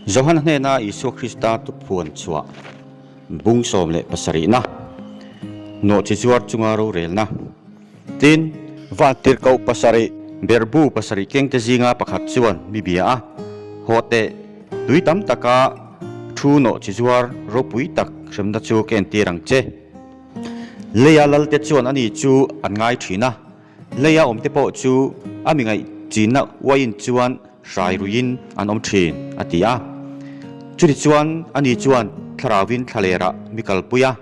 Johan hnena Isua Krista tuphuan chhuah, bung sawm leh pasarihna, nawhchi zuar chunga rorelna, tin, Vantir koh pasarih, berbu pasarih kengte zinga pakhat chuan mi bia a haw teh, tui tam taka thu nawhchi zuar ropui tak hremna chu ka entir ang che. Leia lalte chuan ani chu an ngai thin a. Lei a awmte pawh chu a mingaih chinna uaiin chuan hrai ruiin an awm thin, a ti a. Chutichuan a ni chuan Thlarauvin thla lerah mi kalpui a,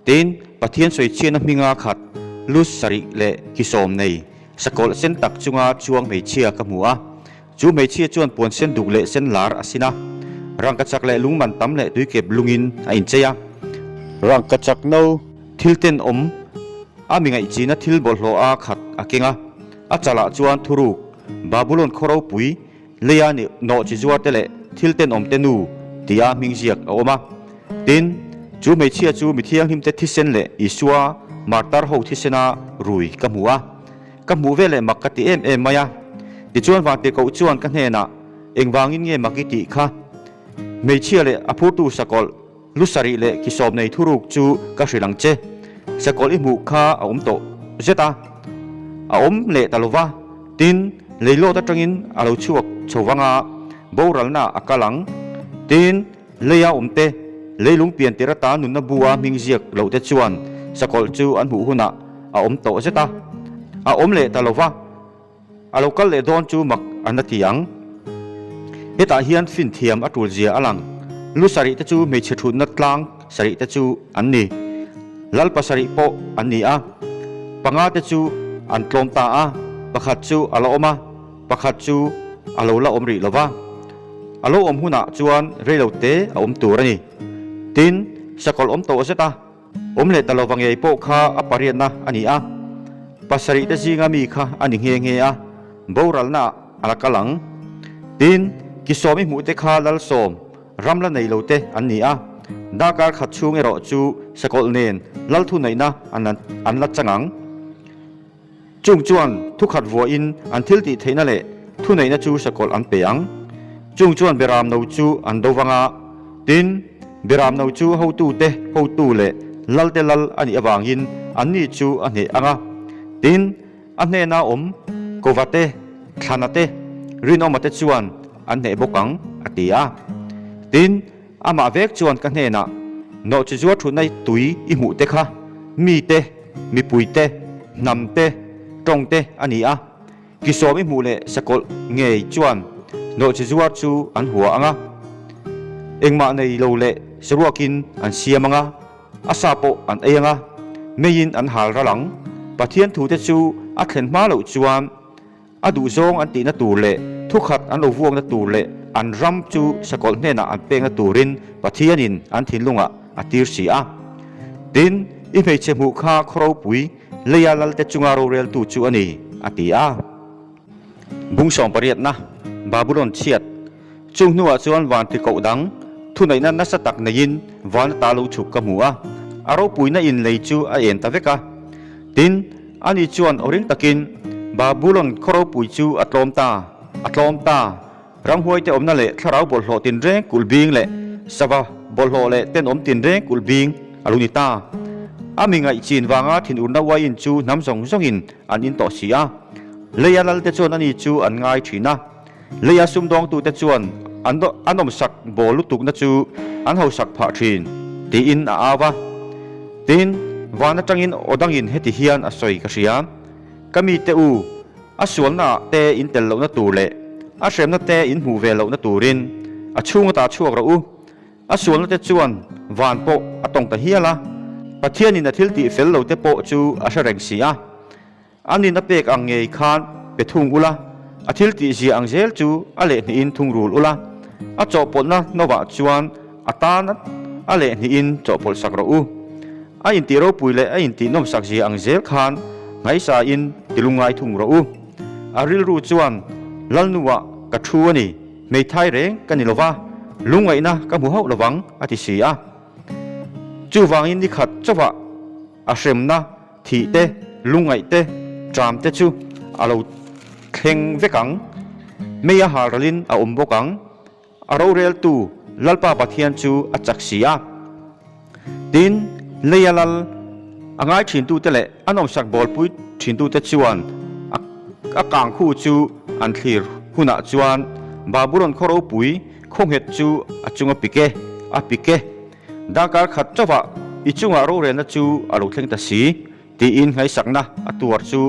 tin Pathian sawi chiahna hminga khat lu sarih leh ki sawm nei sakawlh sen tak chunga chuang hmeichhia ka hmu a, Chu hmeichhia chuan puan sen duk leh sen lar a sin a, rangka chak leh lungman tam leh tuikep lungin a inchei a. Rangka chak no thil ten awm a mingaihchihna thil bawlhhlawh a khat a keng a, a chalah chuan thuruk, Babulon khaw ropui, leia nih nawh chi zuar te leh thil ten awm te nu tia hming ziak a awm a. Tin, chu hmeichhia chu mi thianghlimte thisen leh Isua martar ho thisena rui ka hmu a. Ka hmuh ve leh mak ka ti em em mai a, tichuan Vangtekoh chuan ka hnenah engvangin nge mak i tih kha? Hmeichhia leh a phurtu sakawlh, lu sarih leh ki sawm nei thuruk chu ka hrilh ang che. Sakawlh i hmuh kha a awm tawh zet a, a awm leh ta lo va, tin leihlawt atangin a lo chhuak chho vanga boralna a kal ang, tin. Lei a awmte leilung pian tir ata nunna bu a hming ziak lohte chuan sakawlh chu an hmuh hunah a awm tawh zet a, a awm leh ta lo va, a lo kal leh dawn chu mak a na ti ang. Hetah hian fin thiam a tul zia a lang. Lu sarih te chu hmeichhe thutna tlang sarih te chu an ni. Lalpa sarih pawh an ni a, panga te chu an tlawm ta a, pakhat chu a la awm a, Pakhat chu a lo la awm rih lo va, a lo awm hunah chuan reilo te a awm tur a ni. Tin, sakawlh awm tawh zeta awm leh ta lo vangei pawh kha a pariatna a ni a, pasarih te zinga mi kha a ni nghe nghe a, boralnaah a la kal ang. Tin, kisawmi hmuh te kha lal sawm, ram la nei lo te an ni a, dahkar khat chhung erawh chu sakawlh nen lalthunaihna an la chang ang. Chung chuan thu khat vuahin an thil tih theihna leh thu neihna chu hre kawlh an pe ang. Chung chuan Beram no chu an do vang a, tin, Beram no chu hotu te hotu leh lal te lal a nih avangin an ni chu a hneh ang a. Tin, a hnena awm kova te, thlana te, rinawma te chuan an hneh bawk ang, a ti a. Tin, Amah vek chuan ka hnenah Nawhchi zuar thunaih tui i hmuh te kha mite, mipui te, hnam te, tawng te a ni a. Kisawm i hmuh leh sakawlh ngei chuan Nawhchi zuar chu an hua ang a. Engmah nei lo leh saruakin an siam ang a, a sa pawh an ei ang a, meiin an hal ral ang. Pathian thute chu a thlen hma loh chuan A duhzawng an tihna tur leh thukhat an lo vuakna tur leh an ram chu sakawlh hnenah an pekna turin Pathianin an thinlungah a tir si a. Tin, i hmeichhe hmuh kha khaw ropui leia lalte chunga roreltu chu a ni, a ti a. Bungsawm pariatna, Babulon chhiat. Chu hnuah chuan vânti koh dang thuneihna nasa tak neiin vân ata lo chhuk ka hmu a, a ropuina in lei chu a ên ta vek a. Tin, ani chuan aw ring takin, Babulon khawropui chu a tlawm ta, a tlawm ta, ramhuaite awmna leh thlarau bawlhhlawh tinreng kulh bîng leh sava bawlhhlawh leh tent awm tinreng kulh bîng a lu ni ta. A mi ngaih chin vanga thinurna uaiin chu hnam zawng zawngin an in tawh si a, Leia lalte chuan ani chu an ngai ṭhin a. Lei a sum dawngtute chuan a nawmsak bawl lutukna chu an hausak phah thin, tiin a au a. Tin, van atangin aw dangin heti hian a sawi ka hria, Ka mite u, a sualnaah te in tel lohna tur leh a hremna te in hmuh ve lohna turin a chhunga ta chhuak rawh u. A sualnate chuan van pawh a tawng ta hial a, Pathianin a thil tih fel lote pawh chu a hre reng si a. An in a pek ang ngei khan pe thung ula, a thil tih zia ang zel chu a lehnghih in thung rul ula, a chawhpawlhna hnawvah chuan a tan a lehnghih in chawhpawlhsak rawh u. A intih ropui leh a intih nawmsak zia ang zel khan ngaisa in ti lungngai thung rawh u. A rilru chuan, Lalnu ah ka thu a ni, hmeithai reng ka ni lova, lungngaihna ka hmu hauh lovang a ti si a. Chuvangin nikhat chauhah a hremna Thih te, lungaih te, ṭam te chu a lo thleng vek ang. May a hal ralin a awm bawk ang. A roreltu Lalpa Pathian chu a chak si a. Tin, Lei a lal a ngai ṭhintute leh a nawmsak bawlpui ṭhintute chuan a a kang khu chu an thlir hunah chuan Babulon khaw ropui khawnghet chu a chunga pik e, a pik e. Dangkar khat chauha i chunga rorelna chu a lo thleng ta si, tiin ngaisakna a tuar chu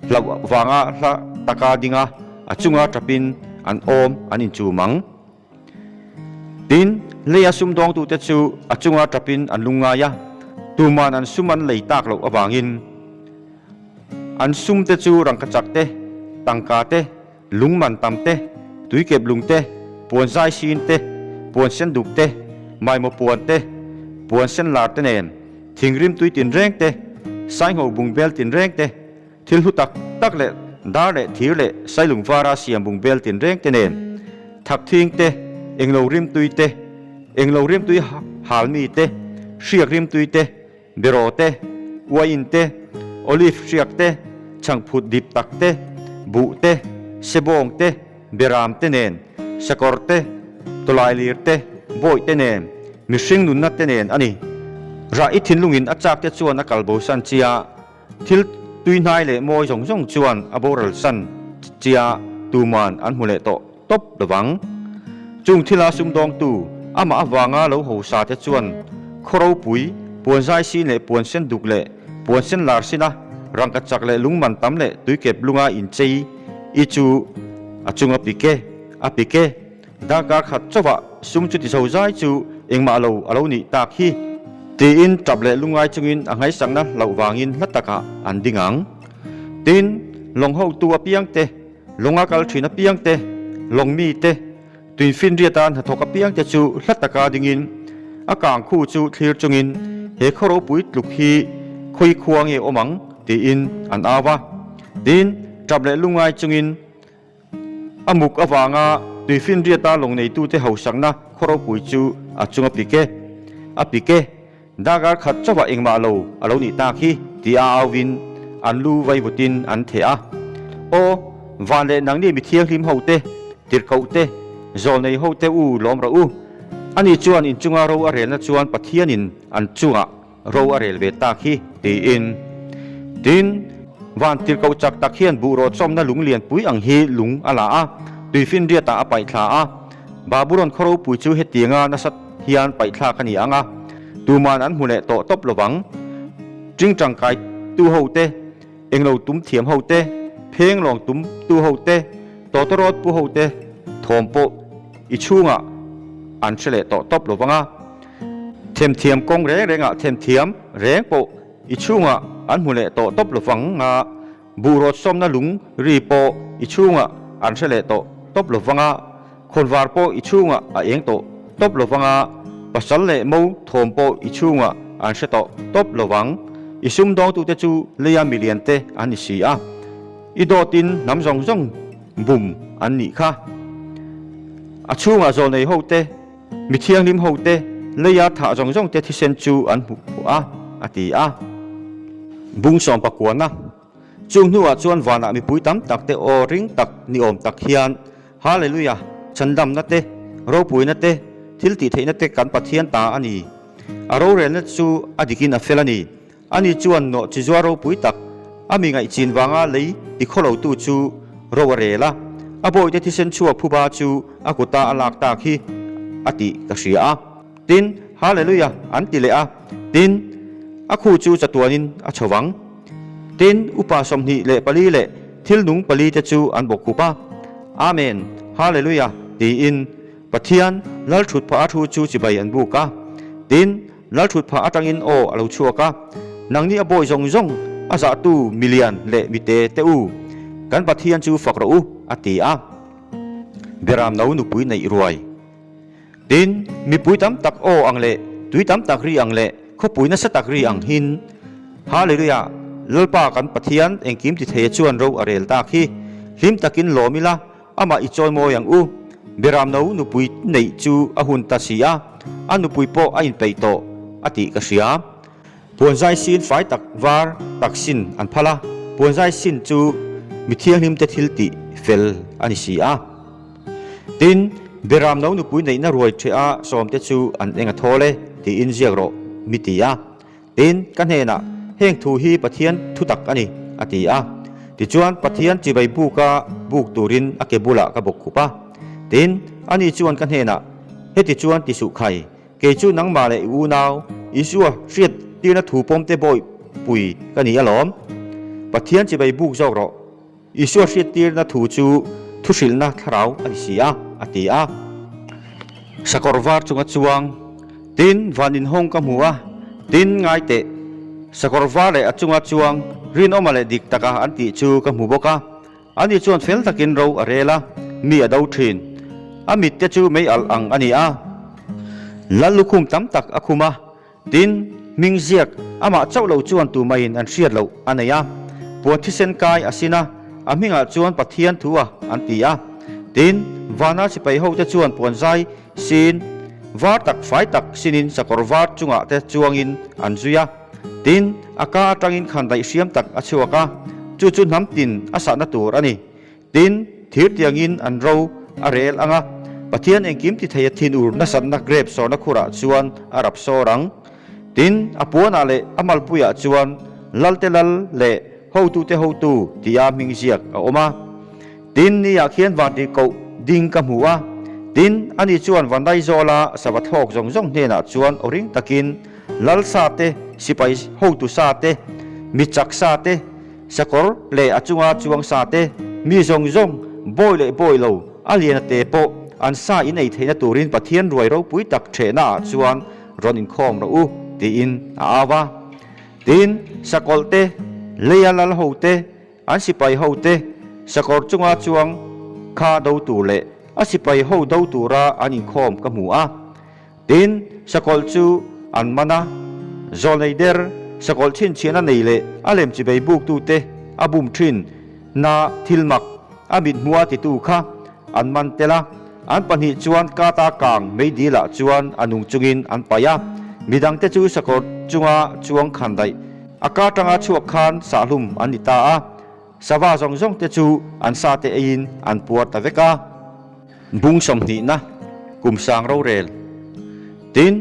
hlau vanga hla taka dinga a chunga ṭapin an awm an inchum ang. Tin, lei a sum dawngtute chu a chunga ṭapin an lung ngai a, tuman an sum an lei tak loh avangin an sumte chu rangkachakte, tangkate, Lungman tam te, tuikep lung te, puan zai sin te, puan sen duk te, maimaw puan te, puan sen lar te nen, thingrim tui tinreng te, sainho bungbel tinreng te, thil hlu tak tak leh dar leh thir leh sailung vara siam bungbel tinreng te nen, thak thing te, englo rimtui te, englo rimtui hal mi te, hriak rimtui te, Bero te, Wain te, Olive hriak te, Chhangphut dip tak te, Buh te, Sebawng te, Beram te nen, Sakawr te, Tawlailir te, Bawih te nen, Mihring nunna te nen a ni. Rah i thinlungin a chak te chuan a kal bosan chi a. Thil tuihnai leh mawi zawng zawng chuan a boral san chia tuman an hmu leh tawh tawp lo vang. Chung thila sumdawngtu amah avanga lo ho sa te chuan khaw ropui, puan zai sin leh puan sen duk leh puan sen lar sina, rangka chak leh lungman tam leh tuikep lunga inchei i chu a chunga pike, a pike Darkar khat chauhah sum chu ti zozai chu engmah lo a lo nih tak hi. Tiin tap leh lungai chungin a nghaisakna hloh vangin hla takah an ding ang. Tin, lawng hotu apiang te, lawng a kal thin apiang te, lawng mi te, tui finriata hnathawk apiang te chu hla taka dingin a kang khu chu thlir chungin he khaw ropui tluk hi khawi khua nge awm ang tiin an au a. Tin, tap leh lungai chungin. A muk avanga tuifinriata lawngneitute hausakna khaw ropui chu a chung a pik e, a pik e, Dagar khat chauhah engmah lo a lo nih tak hi, ti a auin an lu vaivutin an theh a. Aw, van leh nang nge mi thianghlim hote, tirhkohte, zawlnei hote u lawm rawh u. Ani chuan inchunga ro a relna chuan Pathianin an chungah Ro a rel ve tak hi, tiin. Tin, van tir ko chak tak hian buh rawhchawmna lung lianpui ang hi lung a la a, tui finriatah a paih thla a. Baburon khaw ropui chu hetianga nasat hian paih thlak a ni ang a, tuman an hmu leh tawh tawp lovang. Ṭing ṭangkai tu ho te, englo tum thiam ho te, pheng lawng tum tu ho te, tawtawr rawt pu ho te thawm pawh i chhungah an hre leh tawh tawp lovang a. Themthiam kawng reng rengah themthiam reng pawh i chhungah an hmu leh tawh tawp lovang a, buhrâwt sawmna lung ri pawh i chhungah an hre leh tawh tawp lovang a, khawnvar pawh i chhungah a êng tawh tawp lovang a, pasal leh mo thawm pawh i chhungah an hre tawh tawp lovang. I sumdawngtute chu leia miliante an ni si a, i dawtin hnam zawng zawng bum an ni kha. A chhungah zawlneihote Mi thianghlim hote leia thah zawng zawng te thisen chu an hmu khawh a, a ti a. Bung sawm pakuana. Chu hnuah chuan vanah mipui tam tak te aw ring tak ni awm tak hian Hallelujah, chhandamna te, ropuina te, thiltihtheihna te kan Pathian ta a ni. A rorelna chu a dikin a fel a ni. Ani chuan nawh chizua ropui tak a mi ngaih chin vanga lei i khaw lotu chu ro a rel a, a bawihte thisen chhuak phuba chu a kuta a lak tak hi a tih ka hria a. Tin, Hallelujah an ti leh a, tin, a khu chu chatuanin a chho vang. Tin, upa sawmhnih leh pali leh thil nung pali te chu an bawk hup a, Amen, Hallelujah tiin Pathian Lalthut Phah a thu chu chibai an buk a. Tin, Lalthut pha atangin aw a lo chhuak a, Nang nih a bawi zawng zawng, a zahtu milian leh mite te u, kan Pathian chu fak rawh u, a ti a. Biaram no nupui neih ruai. Tin, mipui tam tak aw ang leh tui tam tak ri ang leh khawpui nasa tak ri ang hin, Hallelujah, Lalpa kan Pathian engkim tithei a chuan ro a rel tak hi, hlim takin lawm ila, Amah i chawi mawi ang u. Biram no nupui neih chu a hun ta si a, a nupui pawh a in peih tawh a tih ka hria. Puanzai sin fai tak var tak sin an phal a, puanzai sin chu mi thianghlim te thil tih fel a ni si a. Tin, Biram no nupui neihna ruai theh a sawm te chu an eng a thawl e tiin ziak rawh mi ti a. In ka hnenah, Heng thu hi Pathian thutak a ni, a ti a. Tichuan, Pathian chibai buka buk turin a ke bulah ka bawk khup a. Tin, ani chuan ka hnenah, Heti chuan ti suh khai, Kei chu nangmah leh i unau Isua hriat tirna thu pawmte bawihpui ka ni alawm. Pathian chibai buk zawk rawh. Isua hriattirna thu chu thuhrilhna thlarau a ni si a, a ti a. Sakawr var chunga chuang, tin van inhawng ka hmu a, tin ngai teh, sakawr var leh a chunga chuang rinawma leh dik taka an tih chu ka hmu bawk a. Ani chuan fel takin ro a rel a, mi a do thin. A mit te chu mei alh ang a ni a. Lal lukhum tam tak a khum a. Tin, hming ziak amah chauh lo chuan tu maiin an hriat loh a nei a, puan thisen kai a sin a, a hmingah chuan Pathian thu a an ti a. Tin, vana sipai hote chuan puan zai sin var tak fai tak sinin sakawr var chungah te chuangin an zui a. Tin, a ka atangin khan daihhriam tak a chhuak a, chu chu hnam tin a sahna tur a ni. Tin, thir tiangin an ro a rel ang a, Pathian engkim titheia thin ur nasatna grape sawrna khurah chuan a rap sawr ang. Tin, a puanah leh a malpuiah chuan Lalte Lal leh Hotute Hotu tia hming ziak a awm a. Tin, niah khian vangtir koh ding ka hmu a, tin, ani chuan va nai zawl a sava thlawk zawng zawng hnenah chuan aw ring takin Lal sa te, sipai hotu sa te, mi chak sa te, Sakawr leh a chunga chuang sa te, mi zawng zawng, bawi leh bawi lo, a liana te pawh an sa inei theihna turin Pathian ruai ropui tak thehnaah chuan rawn inkhawm rawh u tiin a au a. Tin, sakawlh te, leia lal ho te, an sipai ho te, sakawr chunga chuang kha do tur leh a sipai ho do tura an inkhawm ka hmu a. Tin, sakawlh chu an man a, Zawlneider sakawlh chhinchhiahna nei leh a lemchibei buktute a bum thin na thil mak a mithmua titu kha an man tel a, an pahnih chuan kata kang meidîlah chuan a nung chungin an paih a, midangte chu sakawlh chunga chuang khan daih a kar tanga chhuak khan sahhlum an ni ta a, Sava zawng zawng te chu an sa te eiin an puar ta vek a. Bung sawmhnihna, kum sang rorel. Tin,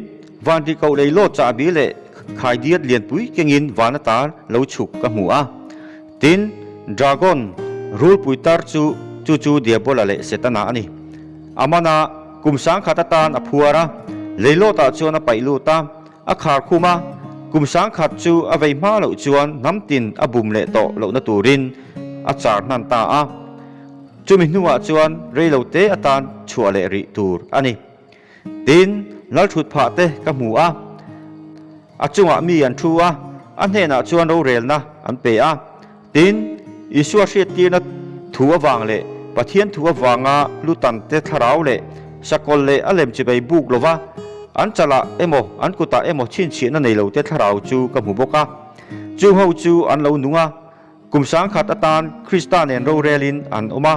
vanri koh lei lawt chahbi leh khai diat lianpui kengin van ata lo chhuk ka hmu a. Tin, Dragon, rulpui tar chu chu chu Diabola leh Setana a ni. A mana, kum sang khat atan a phuar a, lei lawtah chuan a paih lut a. A khar khum a, kum sangkhat chu a vei hma loh chuan hnam tin a bum leh tawh lohna turin a char hnan ta a. Chumi hnuah chuan rei lo te atan chhuah leh rih tur a ni. Tin, lalthut phah te ka hmu a, a chungah mi an thu a, a hnenah chuan rorelna an pe a. Tin, Isua hriattirna thu avang leh Pathian thu avanga lutante thlarau leh sakawlh leh a lem chibei buk lova an chalah emaw an kutah emaw chhinchhiahna nei lote thlarau chu ka hmu bawk a. Chung ho chu an lo nung a, kum sangkhat atan Krista nen rorelin an awm a.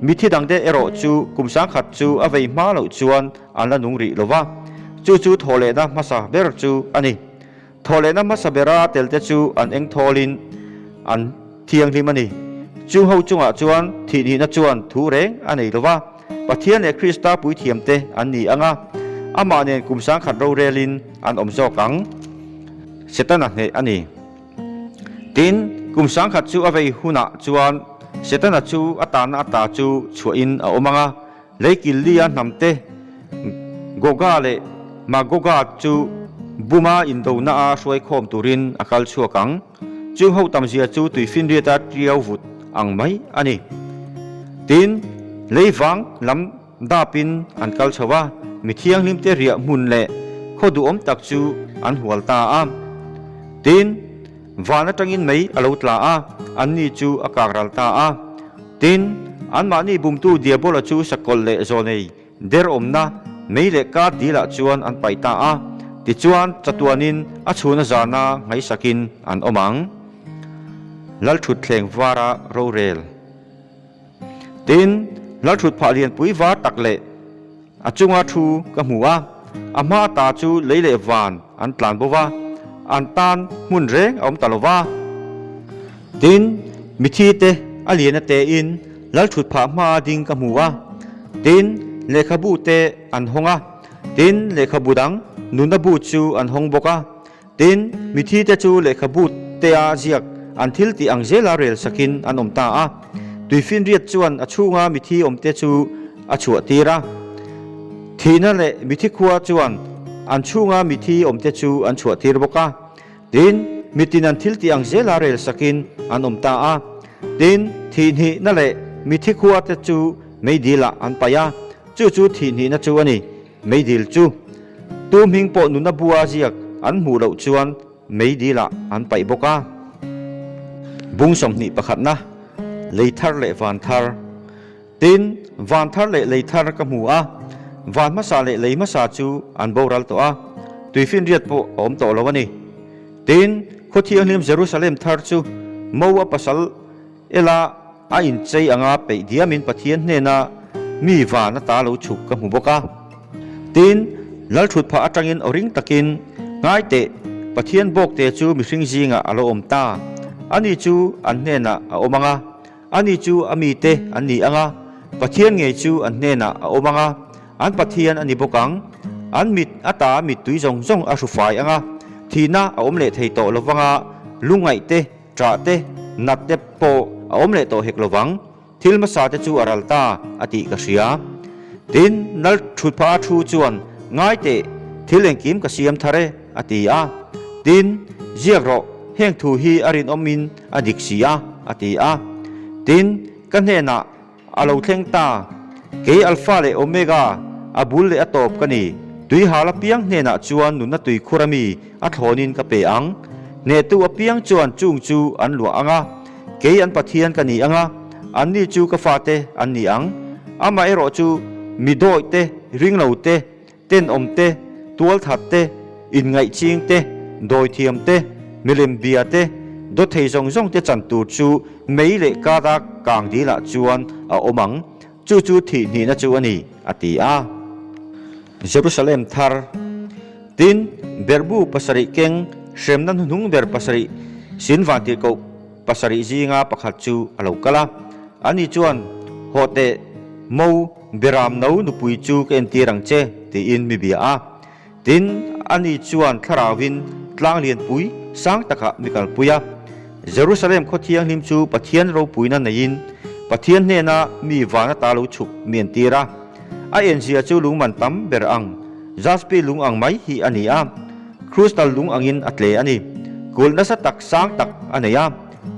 Mithi dangte erawh chu kum sangkhat chu a vei hma loh chuan an la nung rih lova, chu chu thawhlehna hmasa ber chu a ni. Thawhlehna hmasa bera telte chu an eng thawlin an thianghlim a ni. Chu ho chungah chuan thihnihna chuan thu reng a nei lova, Pathian leh Krista puithiamte an ni anga, amah nen kum sangkhat rorelin an awm zawk ang. Setana hneh a ni. Tin, kum sangkhat chu a vei hunah chuan Setana chu a tanna ata chu chhuahin a awm anga, Lei Kili a hnam te Goga leh Magoga chu Buma indona a hruai khawm turin a kal chhuak ang. Chu ho tam zia chu tui finriat a tiau vut ang mai a ni. Tin, lei vang lam dapin an kal chho a, mi thianghlim te riah hmun leh khaw duhawm tak chu an hual ta a. Tin, Van atangin mei a lo tla a, anni chu a kak ral ta a. Tin, anmahni bumtu Diabola chu sakawlh leh zawnei der awmna mei leh kar dilah chuan an pai ta a, tichuan chatuanin a chhuna zana ngaisakin an awm ang. Lalthutthleng vara rorel. Tin, hnalthut phah lianpui var tak leh a chunga thu ka hmu a, a hma ta chu lei leh van an tlan bo va, an tan hmun reng a awm ta lo va. Tin, mithi te a liana tein lalthut phah hma ding ka hmu a, tin, lehkhabu te an hawng a, tin, lehkhabu dang nunna bu chu an hawng bawk a. Tin, mithi te chu lehkhabu tea ziak an thil tih ang zela rel sak in an awm ta a. Tuifinriat chuan a chhunga mithi awm te chu a chhuah tir a. Thihna leh mithi khua chuan an chhunga mithi awm te chu an chhuah tir bawk a. Tin, mitin an thil tih ang zela rel sak in an awm ta a. Tin, thihnihna leh mithi khua te chu meidil ah an paih a. Chu chu thihnihna chu a ni. Meidil chu tu hming pawh nuna bua ziak an hmuh loh chuan Meidilah an paih bawk a. Bung sawmhnih pakhatna, Lei thar leh van thar. Tin, van thar leh lei thar ka hmu a, van hmasa leh lei hmasa chu an boral tawh a, tui finriat pawh a awm tawh lo a ni. Tin, khaw thianghlim Jerusalem thar chu Mo-a pasal, Ella a inchei anga peih diamin Pathian hnena mi van ata lo chhuk ka hmu bawk a. Tin, lalthut phah atangin aw ring takin, Ngaiteh, Pathian bawkte chu mihring zingah a lo awm ta. Ani chu an hnenah a awm anga, ani chu a mite an ni anga, Pathian ngei chu an hnenah a awm anga, an Pathian a ni bawk ang. An mit ata mittui zawng zawng a hru fai anga, thihna a awm leh thei tawh lovanga lungngaihte, Chah te, nat te pawh a awm leh tawh hek lo vang. Thil hmasa te chu a ral ta a tih ka hria. Tin, nal thu pha a thu chuan, Ngai teh, thil engkim ka siam thar e, a ti a. Tin, ziak rawh, heng thu hi a rinawmin a dik si a, a ti a. Tin, ka hnenah A lo thleng ta, kei Alfa leh Omega, a bul leh a tawp ka ni. Tuihal apiang hnenah chuan nunna tui khurami a thlawnin ka pe ang. Hnehtu apiang chuan chung chu an luah ang a, kei an Pathian ka ni ang a, anni chu ka fate an ni ang. Amaherawhchu, mi dawihte, ringlote, Tenawm te, tualthat te, inngaihching te, dawithiam te, milem bia te, dawthei zawng zawng te chan tur chu mei leh kata kang dil ah chuan a awm ang, chu chu thih hnihna chu a ni, a ti a. Jerusalem thar. Tin, berbu pasarih keng hremna hnuhnung ber pasarih sin vangtir koh pasarih zinga pakhat chu a lo kal a, ani chuan, Haw teh, Mo! Biram no nupui chu ka entir ang che, tiin mi bia a. Tin, ani chuan thlarauin tlang lianpui sang takah mi kalpui a. Jerusalem khaw thianghlim chu Pathian ropuina neiin Pathian hnena mi van ata lo chhuk mi entir a. A en zia chu lung man tam ber ang, jaspi lung ang mai hi a ni a. Krus dal lung angin a tle a ni. Kulh nasa tak sang tak a nei a,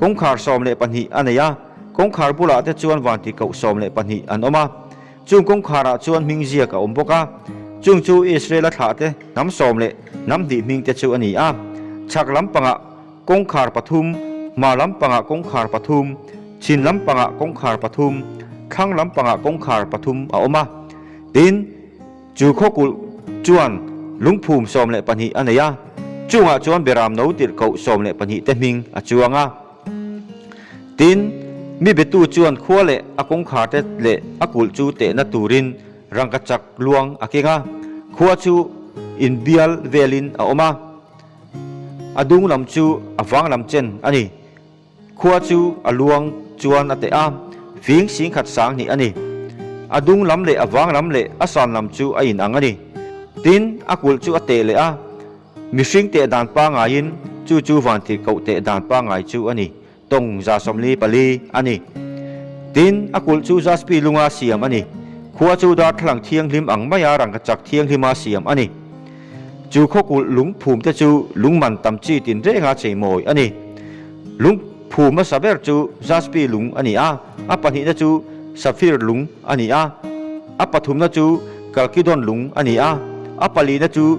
kawngkhar sawm leh pahnih a nei a. Kawngkhar bulah te chuan vangti koh sawm leh pahnih an awm a, chung kawngkhar ah chuan hming ziak a awm bawk a, chung chu Israel a thlah te hnam sawm leh hnam hnih hming te chu a ni a, chhak lampangah kawngkhar pathum, hma lampangah kawngkhar pathum, chhin lampangah kawngkhar pathum, thlang lampangah kawngkhar pathum a awm a, tin, chu khawkulh chuan lungphum sawm leh pahnih a nei a, chungah chuan Beram no tirh koh sawm leh pahnih te hming a chuang a. Tin, mi biatu chuan khua leh a kawngkhar te leh a kulh chu tehna turin rangkachak luang a keng a. Khua chu inbial velin a awm a, a dung lam chu a vang lam chen a ni. Khua chu a luang chuan a teh a, fing sing khat sang hnih a ni. A dung lam leh a vang lam leh a san lam chu a inang a ni. Tin, a kulh chu a teh leh a. Mihring teh dan pangaiin chu chu vantih koh teh dan pangai chu a ni. Tawng za sawmli pali a ni. Tin, a kulh chu jaspi lunga siam a ni. Khua chu darthlalang thianghlim ang maia rangkachak thianghlima siam a ni. Chu khawkulh lungphum te chu lungman tam chi tinrenga chei mawi a ni. Lungphum a sa ber chu jaspi lung a ni a, a pahnihna chu sapphire lung a ni a, a pathumna chu chalcedon lung a ni a, a palina chu,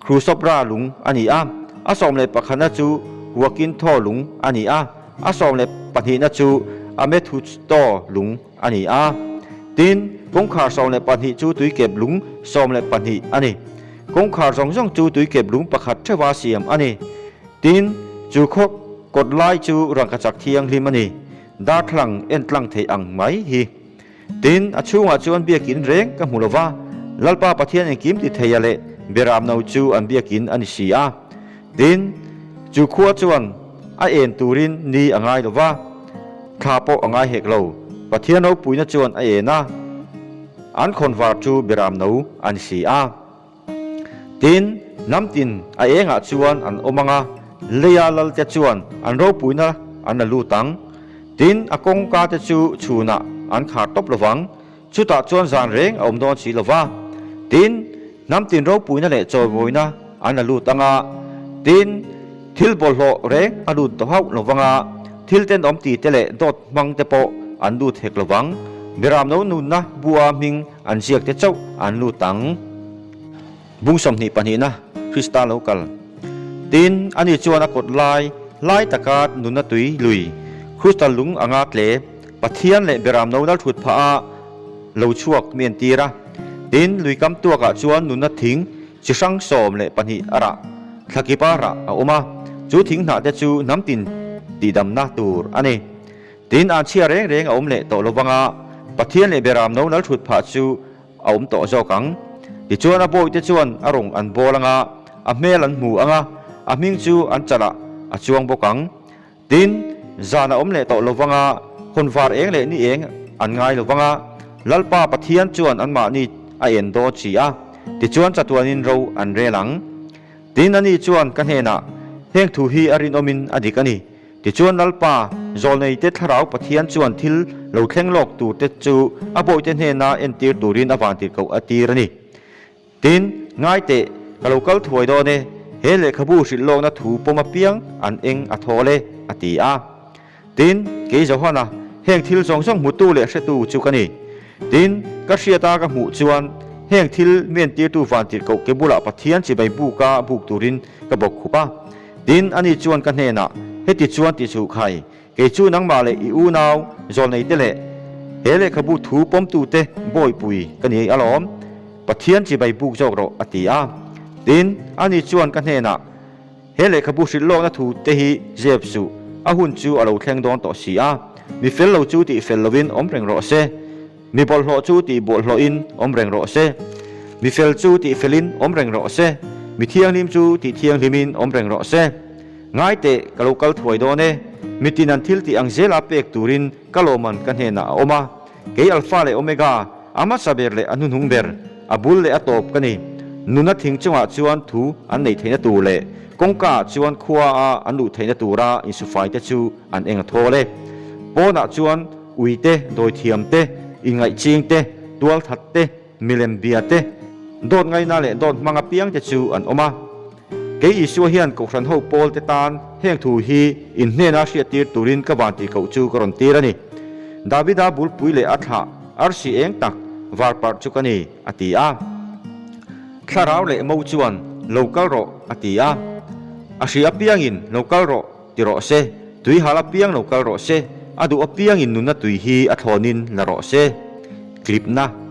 Khrusopra lung a ni a, a sawm leh pakhana chu Huakinthaw lung a ni a, a sawm leh pahnihna chu Amethutstho lung a ni a. Tin, kawngkhar sawm leh pahnih chu tuikep lung sawm leh pahnih a ni. Kawngkhar zawng zawng chu tuikep lung pakhat theuhva siam a ni. Tin, chu khawk kawtlai chu rangkachak thianghlim a ni. Darthlalang en tlang theih ang mai hi. Tin, a chhungah chuan biakin reng ka hmu lo va, Lalpa Pathianin Kimtitheia leh Beramno chu an biakin a ni si a. Tin, chu khua chuan a en turin ni a ngai lo va, thla pawh a ngai hek lo. Pathian ropuina chuan a en a, an khawnvar chu Beramno a ni si a. Tin, hnam tin a engah chuan an awm ang a, Leia lal te chuan an ropuina an la lut ang. Tin, a kawngka te chu chhunah an khar tawp lo vang. Chutah chuan zan reng a awm dawn si lo va. Tin, hnam tin ropuina leh chawivawiina an la lut ang a. Tin, thil bawlhhlawh reng a lut doh hauh lo vang a, thil tenawm ti te leh dawt hmang te pawh an lut hek lo vang. Miram no nunna bua hming An ziakte chauh an lut ang. Bung sawmhnih pahnihna Krista lo kal. Tin, ani chuan a kawt lai hlai taka nunna tui lui, Khrustal lung a nga tle, Pathian leh Biaram no nalthut phah a lo chhuak mi an tir a. Tin, lui kam tuakah chuan nunna thing chi hrang sawm leh pahnih a rah, thlakip a rah a awm a, chu thing hnahte chu hnam tin tihdamna tur a ni. Tin, an chhiar reng reng a awm leh tawh lo vanga Pathian leh Beram no nal thut phah chu a awm tawh zawk ang. Tichuan a bawihte chuan a rawn an bawl anga, a hmel an hmu anga, a hming chu an chalah a chuang bawk ang. Tin, zan a awm leh tawh lo vanga hun var eng leh ni eng an ngai lo vanga Lalpa Pathian chuan anmahni a en dawn si a, tichuan chatuanin ro an rel ang. Tin, ani chuan ka hnenah, Heng thu hi a rinawmin a dik a ni. Tichuan Lalpa Zawlneite Thlarau Pathian chuan thil lo thleng lawk tur te chu a bawihte hnena entir turin a van tirhkoh a tir a ni. Tin, ngai teh, ka lo kal thuai dawn e, he lehkhabu hrilh lawkna thu pawm apiang an eng a thawl e, a ti a. Tin, kei Johan a, heng thil zawng zawng hmutu leh hretu chu ka ni. Tin, ka hriat a ka hmuh chuan heng thil mi entirtu van tirhkoh ke bulah Pathian chibai buka buk turin ka bawk khup a. Tin, ani chuan ka hnenah, Heti chuan tih suh khai, kei chu nangmah leh i unau, zawlneite leh he lehkhabu thu pawmtute buaipui ka ni alawm, Pathian chibai buk zawk rawh, a ti a. Tin, ani chuan ka hnenah, He lehkhabu hrilhlawkna thu te hi zep suh, a hun chu a lo thleng dawn tawh si a, mi fel lo chu tih fel loin awm reng rawh se. Mi bawlhhlawh chu tih bawlhhlawhin awm reng rawh se. Mi fel chu tih felin awm reng rawh se. Mi thianghlim chu tih thianghlimin awm reng rawh se. Ngai teh, ka lo kal thuai dawn e. Mi tin an thil tih ang zela pek turin ka lawmman ka hnenah a awm a. Kei Alpha leh Omega, a hmasa ber leh a hnuhnung ber, a bul leh a tawp ka ni. Nuna thing chungah chuan thu an neih theihna tur leh kawngkaah chuan khuaa an luh theihna tura insufai te chu an eng a thawl e. Pawnah chuan. Ui te, dawithiam te, inngaihching te, tualthat te, milem bia te, dawt ngaina leh dawt hmang apiang te chu an awm a. Kei Isua hian Kohhran ho pawl te tan heng thu hi in hnena hriattir turin ka van ti koh chu ka rawn tir a ni. Davida bulpui leh a thlah arsi eng tak var parh chu ka ni, a ti a. Thlarau leh mo chuan, Lo kal rawh, a ti a. A hri apiangin, Lo kal rawh, Ti rawh se, tui hal apiang lo kal rawh se, a duh apiangin nunna tui hi a thlawnin la rawh se. Tlipna,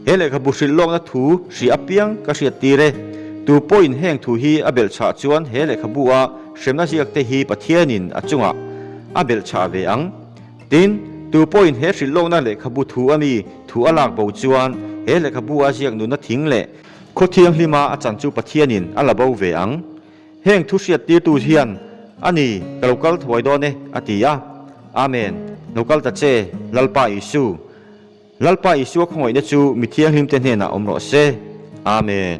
He lehkhabu hrilh lawkna thu hria apiang ka hriat tir e. Tu pawhin heng thu hi a belh chhah chuan he lehkhabua hremna ziak te hi Pathianin a chungah a belh chhah ve ang. Tin, tu pawhin he hrilh lawkna lehkhabu thu a mi thu a lak bo chuan he lehkhabua ziak nunna thing leh khaw thianghlim a a chan chu Pathianin a la bo ve ang. Heng thu hriat tirtu hian a ni ka lo kal thuai dawn e a ti a. Amen. Lo kal ta che, Lalpa Isu. Lalpa Isua khawngawihna chu mi thianghlim te hnenah awm rawh se. Amen.